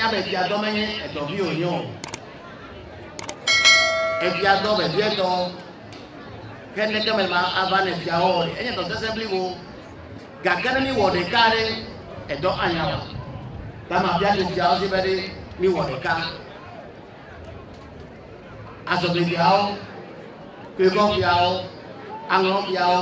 Nya be via dɔ menye edɔ vi wònye o. Evia dɔ vevietɔ ke neke me ma ava ne via wɔ ɖe enye dɔ sese blibo. Gake ne mi wɔ ɖeka ɖe edɔ anya wa. Ba ma via ɖe via wɔ si be ɖe mi wɔ ɖeka. azɔgbeviawo, kpebɔviawo, aŋlɔviawo.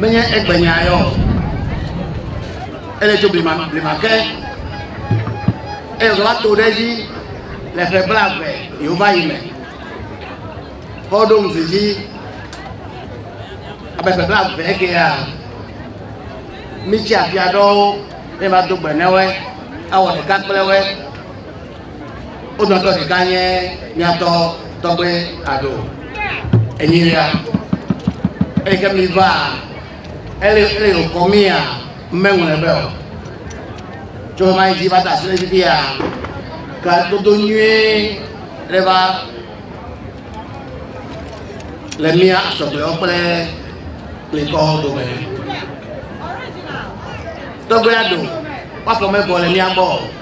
menye egbenya yɔ ele tso blima blima ke eye wòva to ɖe edzi le ƒe bla eve yehova yi me kɔ ɖo ŋuti dzi abe ƒe bla eve kea mitsi afia ɖɔwo eye ma do gbe ne woe awɔ ɖeka kple woe. Wo dometɔ ɖeka nye míatɔ tɔgbe Ado enyilia. Eyi ke mi va ele ele yo kɔ mia mɛŋlɛ bɛ o. Tso ma dzi va ta sile dzi ya ka dodo nyuie ɖe va le mía asɔgbewo kple klikɔwo dome. Tɔgbe Ado, woafɔ mɛbɔ le mía gbɔ o.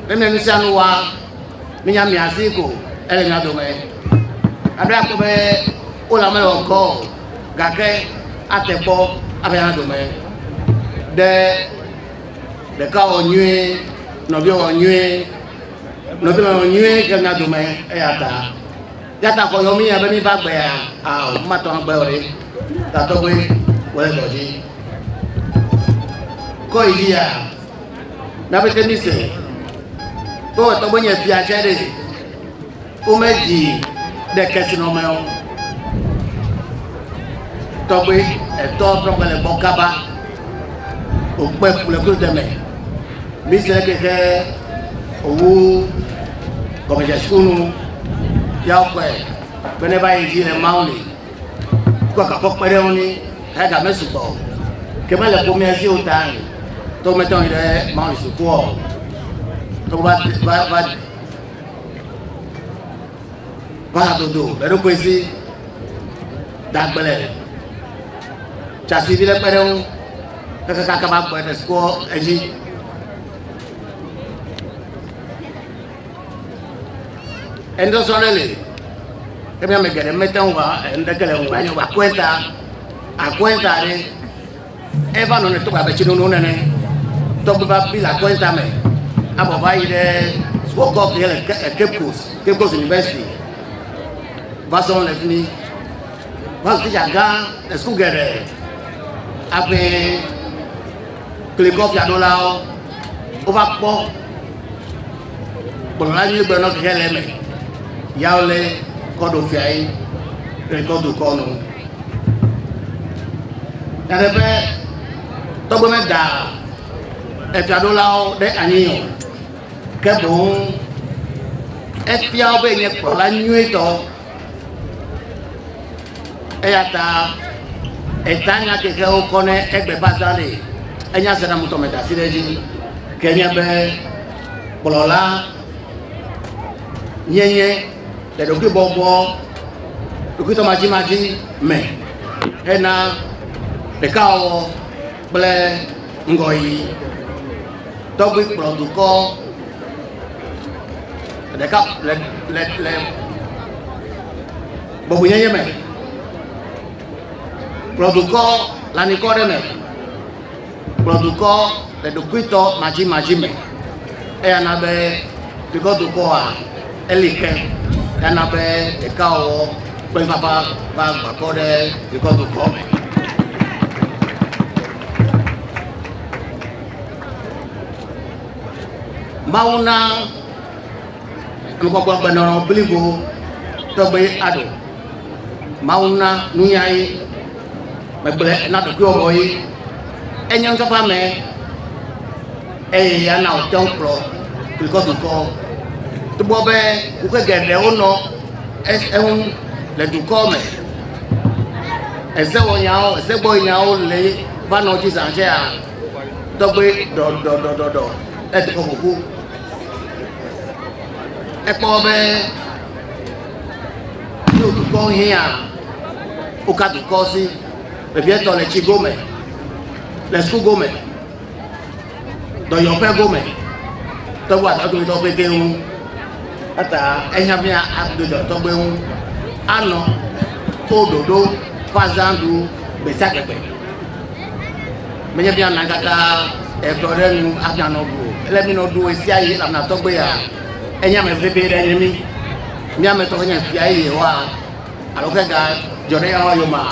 Nene nu sia nu wa, minya mia si ko ele mia dome. Aɖo akpɔ be wole ame wɔ kɔ o, gake ate kpɔ abe ya dome. Ɖe ɖeka wɔ nyuie, nɔvia wɔ nyuie, nɔvia wɔ nyuie ke mia dome eya ta. Yata kɔ yɔ mi ya be mi va gbe ya a o ma tɔ gbe o re ta tɔ gbe wɔ le dɔ dzi kɔ yi ya na be te mi se be wɔ tɔ gbe nye fia tsɛ ɖe wo me dzi ɖe kɛse nɔ mɛ o tɔ gbe etɔ tɔ gbe le gbɔ kaba o kpe kple klo deme mi se ke ke owu. gɔmedzesiwo nu ya wokpɔe be ne va yi dzi le mawu li kpɔ kakɔ kpe ɖe ŋu ni eya game sugbɔ o ke mele ƒomea dzi o ta ni to mete ŋu yi ɖe mawu li sukua o to va va va va hadodo eɖokui si dagblẽ tsasi vi ɖe kpe ɖe ŋu kekekaka va gbɔe le sukua edzi. Eŋdɔsɔ ɖe le ebe ame geɖe mete ŋu va eŋdeke le ŋu anyo va kɔɛta akɔɛta ɖe eva nɔ ne tɔgba bɛtsi nono nene tɔgba va bi le akɔɛta me abɔ va yi ɖe sukɔkɔ ke le Cape Coast Cape Coast University va sɔ le fi mi va sɔ titsa gã le suku geɖe aƒe. klikɔ fiaɖolawo wova kpɔ kplɔla nyui gbe nɔ keke le eme yawo le kɔɖo fia yi klikɔ dukɔ nɔ nane be tɔgbe me da efiaɖolawo ɖe anyi o ke boŋ efiawo be nye kplɔla nyuitɔ eya ta eta nya keke wokɔ ne egbe ba da ne enya se na mutɔ me da si ɖe edzi ke nye be kplɔla nyenye le ɖokui bɔbɔ ɖokui tɔ madzi madzi me hena ɖekawɔwɔ kple ŋgɔyi tɔgbi kplɔ dukɔ ɖeka le le le bɔbɔnyenye me kplɔ dukɔ le anikɔ ɖe me kplɔ dukɔ le ɖokuitɔ madzimadzi me eya na be dukɔ dukɔa. Eli ke gana be ɖekawɔwɔ ƒe vava va gbãtɔ ɖe dukɔ dukɔ me. Mawu na nukpɔkpɔ gbenɔnɔ blibo tɔgbe aɖo. Mawu na nunya ye, megblẽ na ɖokuiwɔwɔ ye. Enye nukpakpa me Eye ya na wòte ŋu kplɔ dukɔ dukɔwo. Togbɔ be woƒe geɖewo nɔ eŋu le dukɔ me, ezewɔnyawo, ezegbɔnyawo le va nɔ dzi zã tsɛa, tɔgbe ɖɔɖɔɖɔɖɔ le dukɔ ƒoƒu. Ekpɔ be yóò dukɔ hiã woka dukɔ si vevietɔ le tsi gome, le suku gome. dɔyɔƒe gome te ŋu adɔ dometɔ pɛtɛ ŋu eta ehiã be ado dɔ tɔgbe ŋu anɔ to ɖoɖo ƒe azãɖu gbe sia gbe gbe menye be ana kaka edɔ ɖe nu hafi anɔ ɖu o ele be nɔ ɖu ɣe sia ɣi elabena tɔgbe ya enye ame vevi ɖe nye mi mía me tɔgbe nye fia eye yehowa alo ke ga dzɔ ɖe yehowa yomea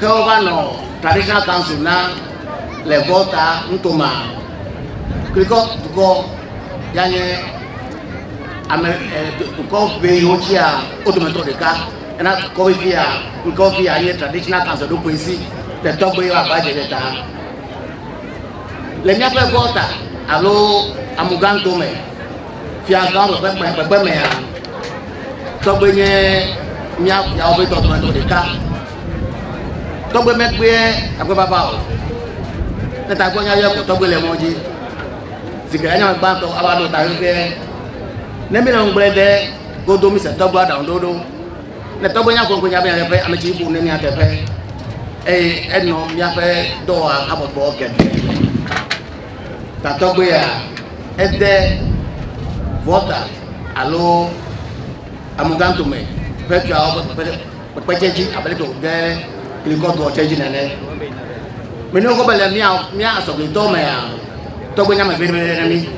Ke wova nɔ Traditional Council na le Volta Ntoma, Krikɔ dukɔ ya nye ame dukɔ ʋe yiwo tsia wo dometɔ ɖeka ena dukɔ vevi ya ŋkɔ vevi ya nye Traditional Council ɖo koe si le tɔgbe wa ba dze ɖe ta. Le míaƒe Volta alo Amuganto me, Fiadɔa me ƒe kpekpekpe mea, tɔgbe nye mía fiawo ƒe tɔgbe nɔ ɖeka. Tɔgbe mekpea tagbefava o. Ne tagbɔ nya yɔ ko tɔgbe le mɔ dzi. Si ke anya me gbãtɔ ava ɖo ta ƒe ne míle ŋugble ɖe godo mise tɔgbe aɖaŋu ɖoɖo. Ne tɔgbe nya ko ŋkɔ nya be nya teƒe ame tsi ƒo ne mía teƒe eye enɔ míaƒe dɔwɔhabɔbɔ geɖe. tatɔgbea ede Volta alo Amoxantome ƒe tuawo ƒe kpekpe ɖe- kpekpe tsɛ dzi abe leke wòde Klikɔtɔ tsɛ dzi nene. Mene wokɔ be le mía mía asɔgblitɔ mea, tɔgbe nye ame ʋɛ ɖe na mí.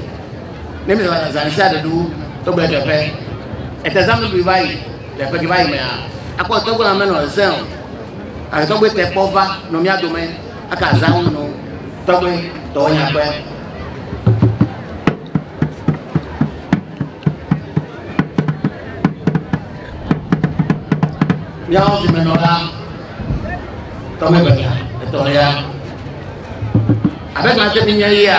Ne míele wɔna zã ɖe sia ɖe ɖu tɔgbe teƒe, etezãmedui va yi le ƒe ke va yi mea, akpɔ tɔgbe la menɔ zẽ o. Gake tɔgbe te kpɔ va nɔ mía dome. Aka zam no tɔgbe tɔwo nyakpe. Miawo si me nɔ la, tɔgbe benya, etɔlia. Abe ma se mi nye yia.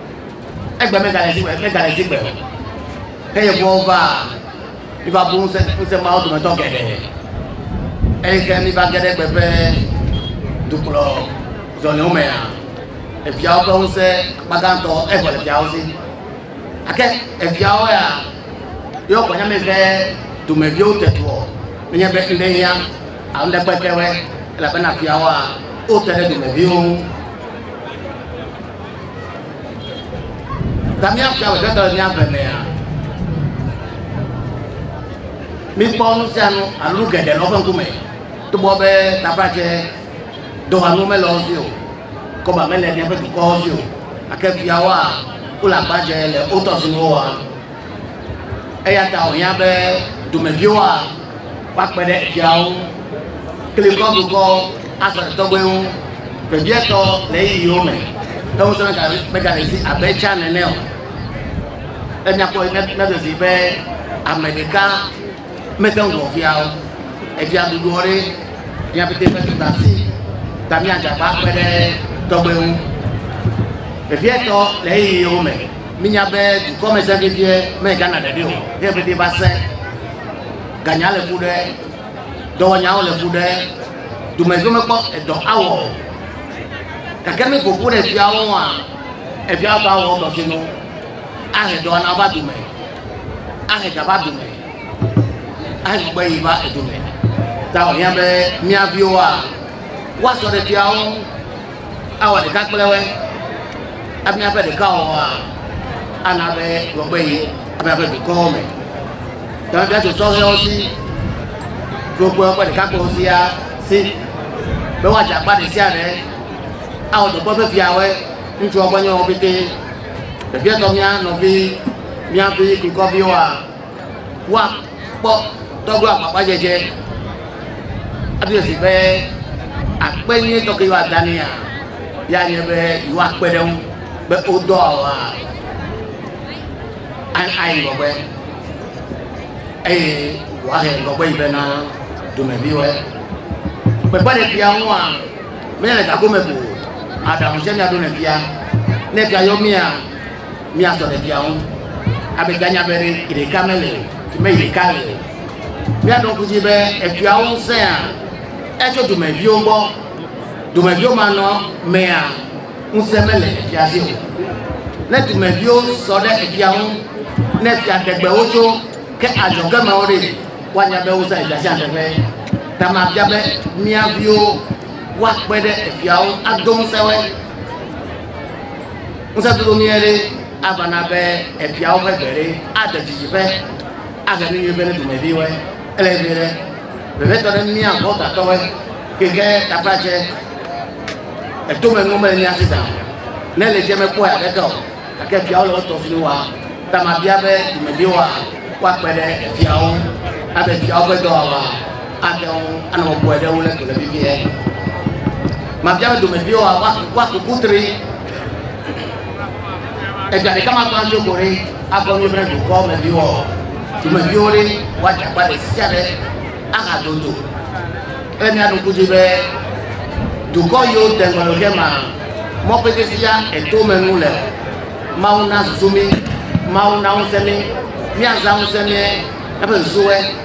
Egbe megale dzi megale dzi gbe o. Ke Yevuwo va, miva bu ŋusẽ ŋusẽ mawo dometɔ geɖe. Eye ke miva ge ɖe gbe ƒe dukplɔ zɔliwo mea, efiawo ƒe ŋusẽ akpa gãtɔ evɔ le fiawo si. Ake efiawo ya yewo kpɔ nyame be domeviwo te tuɔ menye be ŋɖe hiã alo ŋɖe kpe kewɛ elabena fiawoa wote ɖe domeviwo ŋu. Ta míaƒle amegbetɔ le míaƒle mea. Míkpɔ nu sia nu alo nu geɖe le woƒe ŋkume. Togbɔ be taƒatse dohanu mele wo si o, kɔba mele míaƒe dukɔwo si o, gake fiawoa, wole agbadzɛ le wo tɔsinuwo wɔm. Eya ta wòhiã be dumeviwoa woakpe ɖe eviawo kple kɔdukɔ Azɔli tɔgbe ŋu vevietɔ le ɣeyiɣiwo me. Ke ŋusẽ megale, megale zi abe tsã nene o. Ne míakpɔe ne míaɖe zi be ame ɖeka mete ŋu wɔ via o. Evia ɖuɖuɔ ɖe mía pete ƒe dɔdasi ta míadze agbagba akpe ɖe tɔgbe ŋu vevietɔ le ɣeyiɣiwo me. Minya be dukɔmesẽ vevie megana ɖeɖe o, ne vevie va sẽ, ganya le ƒu ɖe, dɔwɔnyawo le ƒu ɖe, domedzo mekpɔ edɔ awɔ o. Gake ne ƒoƒu ɖe fiawo ŋua, efiawo va wɔ dɔ sinu, ahe dɔwɔna va dome, ahe ga va dome, ahe gbɔgbɔ yi va edome. Ta wòhiã be mía viwoa, woasɔ ɖe fiawo ŋu. Awɔ ɖeka kple woe? Ame aƒe ɖekawɔwɔa ana be gbɔgbɔ yi ame aƒe dukɔwo me. Dɔmefia tso sɔhɛwo si, tso kpewo kple ɖekakpuiwo sia si be woadze akpa ɖe sia ɖe awɔ dɔkpe ƒe fiawoe, ŋutsuwo ƒe nyɔnuwo petee, vevietɔ mía nɔvi, mía vi, dukɔviwoa. woakpɔ dɔglo agbagbadzedze aɖo esi be akpe nyui tɔke yewoada nea ya nye be yewoakpe ɖe ŋu be wodɔ awa ayi ŋgɔgbe eye woahe ŋgɔgbe yi be na domeviwo gbegba ɖe fia ŋua mele gagome ko aɖaŋu tsɛ miaɖo ne fia ne fia yɔ mia Mía tɔ ɖevia ŋu. Abe ganya be ɖe yi ɖeka me le o, me yi ɖeka le o. Mía ɖɔ ŋkusi be etua ŋu sẽa, etso dumeviwo gbɔ. Dumeviwo ma nɔ mea, ŋusẽ me le efia si o. Ne dumeviwo sɔ ɖe efia ŋu, ne fia ɖegbe wo tso, ke adzɔge me wo ɖe, woanya be wosẽ efia sia teƒe. Ta ma bia be mía viwo woakpe ɖe efiawo ado ŋusẽ woe. ŋusẽdodo nyuie ɖe ava na be efiawo ƒe gbe ɖe aɖe dzidzi ƒe ahe nu nyuie ƒe ne dumeviwoe ele vi ɖe vevitɔ ɖe mía gbɔgatɔwoe keke tapatsɛ etome nu mele mía si zan ne le dze mekpɔe aɖeke o gake fiawo le wotɔ fini wa tamabia be dumeviwoa woakpe ɖe fiawo abe fiawo ƒe dɔwɔwɔa Amewo anɔ bɔbɔe ɖe wo le dome vevie. Mabia be domeviwoa woaku kutri. Egbea ɖeka ma gbã tso ko ɖe akɔ mi ƒe dukɔ me viwo. Domeviwo ɖe woadze akpa ɖe sia ɖe aha dodo. Ele mia ɖo kuzi be dukɔ yiwo de ŋgɔ ɖe ke ma mɔkpete sia eto me nu le. Mawu na susu mi, Mawu na ŋusẽ mi, miazã ŋusẽ mi eƒe susuwoe.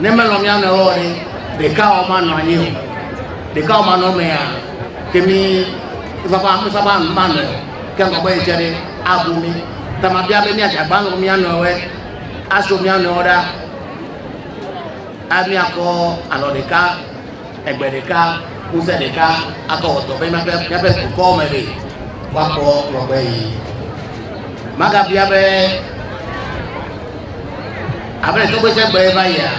Ne melɔ̃ mía nɔewo ɔ he, ɖeka ɔ ma nɔ anyi o. Ɖeka ɔ ma nɔ mɛ a ke mi vava mi vava nu ma nɔe o. Ke ŋgɔ gbɔ yi tse ɖe a bu mi. Ta ma bia be mía dza gba lɔ̃ mía nɔewoe a so mía nɔewo ɖa a mía kɔ alɔ ɖeka. Egbe ɖeka, ŋusẽ ɖeka akɔ wɔ dɔ be míaƒe, míaƒe dukɔwo me ɖe woakpɔ ŋgɔgbe yi. Magabia be, abe le tɔgbeje gblɔe va yia,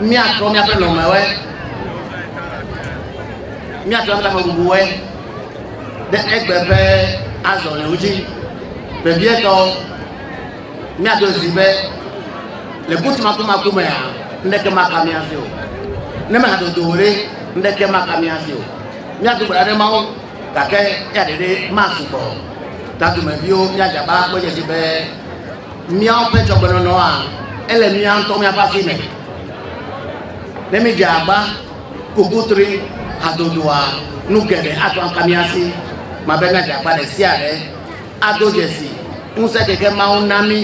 míatrɔ míaƒe nɔmewoe, míatrɔ míaƒe amebubuwoe ɖe egbe ƒe azɔliwo dzi vevietɔ. Míaɖo zi be, Le butu makumaku mea, ŋɖeke maka mía hafi o. Ne mehadodo o ɖe, ŋɖeke maka mía hafi o. Míado gbe ɖa ɖe Mawu, gake eya ɖeɖe masu gbɔ o. Ta dumeviwo, míadze agbagba akpɔ edzi esi be míawo ƒe dzɔgbenɔnɔa, ele mía ŋutɔ míaƒe asi me. Ne mídze agba, ku kutri, hadodoa, nu geɖe ate ŋu aka mía si. Mabia míadze agbagba ɖe sia ɖe. Ado dzesi ŋusẽ keke Mawu na mí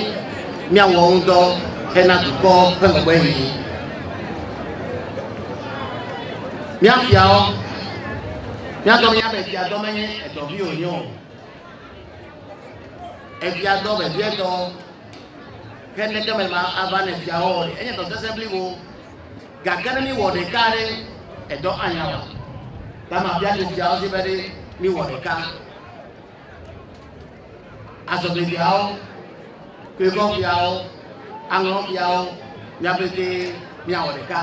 míawɔ ŋu dɔ hena dukɔ ƒe megbehihi. Mía fiawo, mía dɔ mía be fia dɔ menye edɔ vi wònye o. Efia dɔ vevietɔ ke neke me ma ava ne fiawo wɔ ɖe enye dɔ sese blibo. Gake ne míwɔ ɖeka ɖe edɔ anya wɔ. Dama bia ɖe fiawo si be ɖe míwɔ ɖeka. azɔgbeviawo, kuevɔviawo, aŋlɔviawo, mía pete míawɔ ɖeka.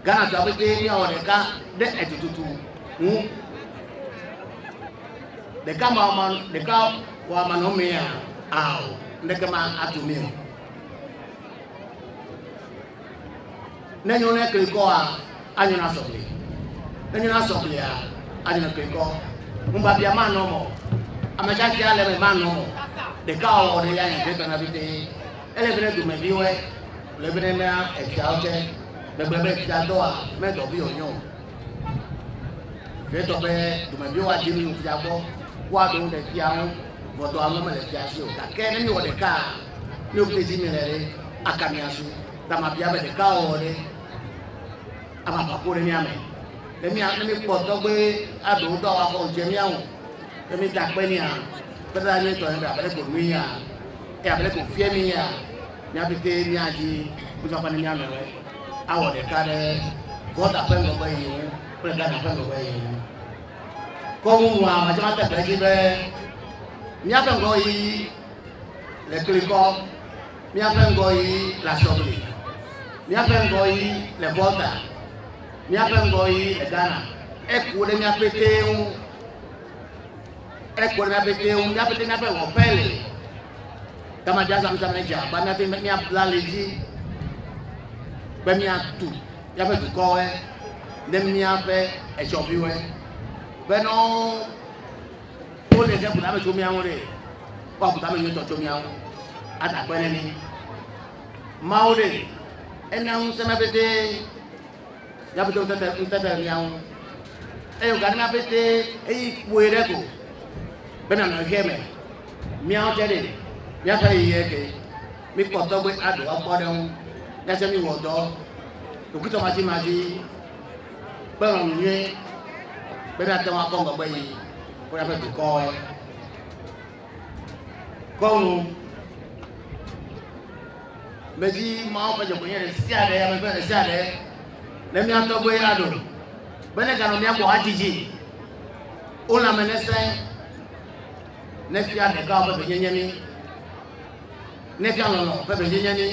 Ghanatɔa pete míawɔ ɖeka ɖe etututu ŋu. Ɖeka ma ma ɖeka wa ma nɔ mea ao, ndeke ma atu mi o. Ne nyo ne klinkɔa, anyo na sɔkli. Ne nyo na sɔklia, anyo na klinkɔ. Ŋubabia manɔ mɔ. Ame tsatsi ale me manɔ mɔ. Ɖeka ɔwɔ ɖe ya nya ɖe tɔna bete. Ele bene dume bi wɛ. Le bene na efia ote. Le bene be fia dɔa, me dɔ bi onyo. Fia tɔ be dume bi wa jimi fia gbɔ. Wa do ne fia ŋu. Vɔtɔ alo me le fia si o. Kake ne mi wɔ ɖeka, mi o bete jimi le re. Akamiasu. Da mabia be ɖeka ɔ ɖe ama va ko ɖe mía me. Ne mía ne mi kpɔ tɔgbe aɖo ŋutɔ wa fɔ ŋdze mía ŋu. Ne mi da kpe nia kpe da nye tɔ ne da bele ko nui ya. Ya bele ko fie mi ya. Mía pete mía dzi mi va kpa ne mía me wɛ. Awɔ ɖeka ɖe gɔda ƒe ŋgɔgbe yi ŋu kple gana ƒe ŋgɔgbe yi ŋu. Kɔmu nua ma jama te gbe dzi be mía ƒe ŋgɔ yi le klikɔ, míaƒe ŋgɔyiyi le asɔgli, míaƒe ŋgɔyiyi le Volta, míaƒe ŋgɔyiyi le Ghana. Eku ɖe mía petee ŋu. Eku ɖe mía petee ŋu. Mía petee míaƒe wɔƒe li. Gama dza zãmzãm ne dze agbã mía petee míabla ali dzi be míatu míaƒe dukɔwoe ne míaƒe etsɔviwoe be ne wo Wole ɖe ƒutame tso mía ŋu ɖe. Kpɔ ƒutame nyuitɔ tso mía ŋu. Ada akpe ɖe mí. Mawu ɖe, ena ŋusẽ mía pete, mía pete ŋutete ŋutete le mía ŋu. Eye wògana mía pete eyi kpɔe ɖe ko be nanɔ ʋe me. Míawo tse ɖe, míaƒe ɣeyiɣi eke. Míkpɔ tɔgbe aɖo akpɔ ɖe ŋu. Míatsɛ míwɔ dɔ ɖokuitɔmatsimatsi. Kpe lɔlɔ̃ nyui be nate ŋu akɔ ŋgɔgbe yi kple eƒe dukɔe. Kɔ nu be dzi Mawu ƒe dzɔgbenyui ɖe sia ɖe ame ƒe ɖe sia ɖe ne mía tɔgbe ya ɖo be ne ganɔ mía gbɔ hadzidzi o la me nese ne fia ɖeka ƒe venyenye ni ne fia lɔlɔ̃ ƒe venyenye ni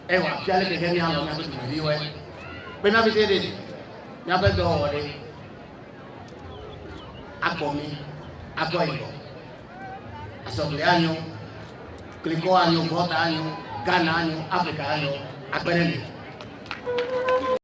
Eye wòafia leke ke míalɔ̃ míaƒe dumeviwoe. Be na vevie ɖee, míaƒe dɔwɔwɔ ɖe akpɔ mí, akpɔ yibɔ, asɔgli anyo, klikɔ anyo, gɔta anyo, Ghana anyo, Afrika anyo, akpe ɖe mí.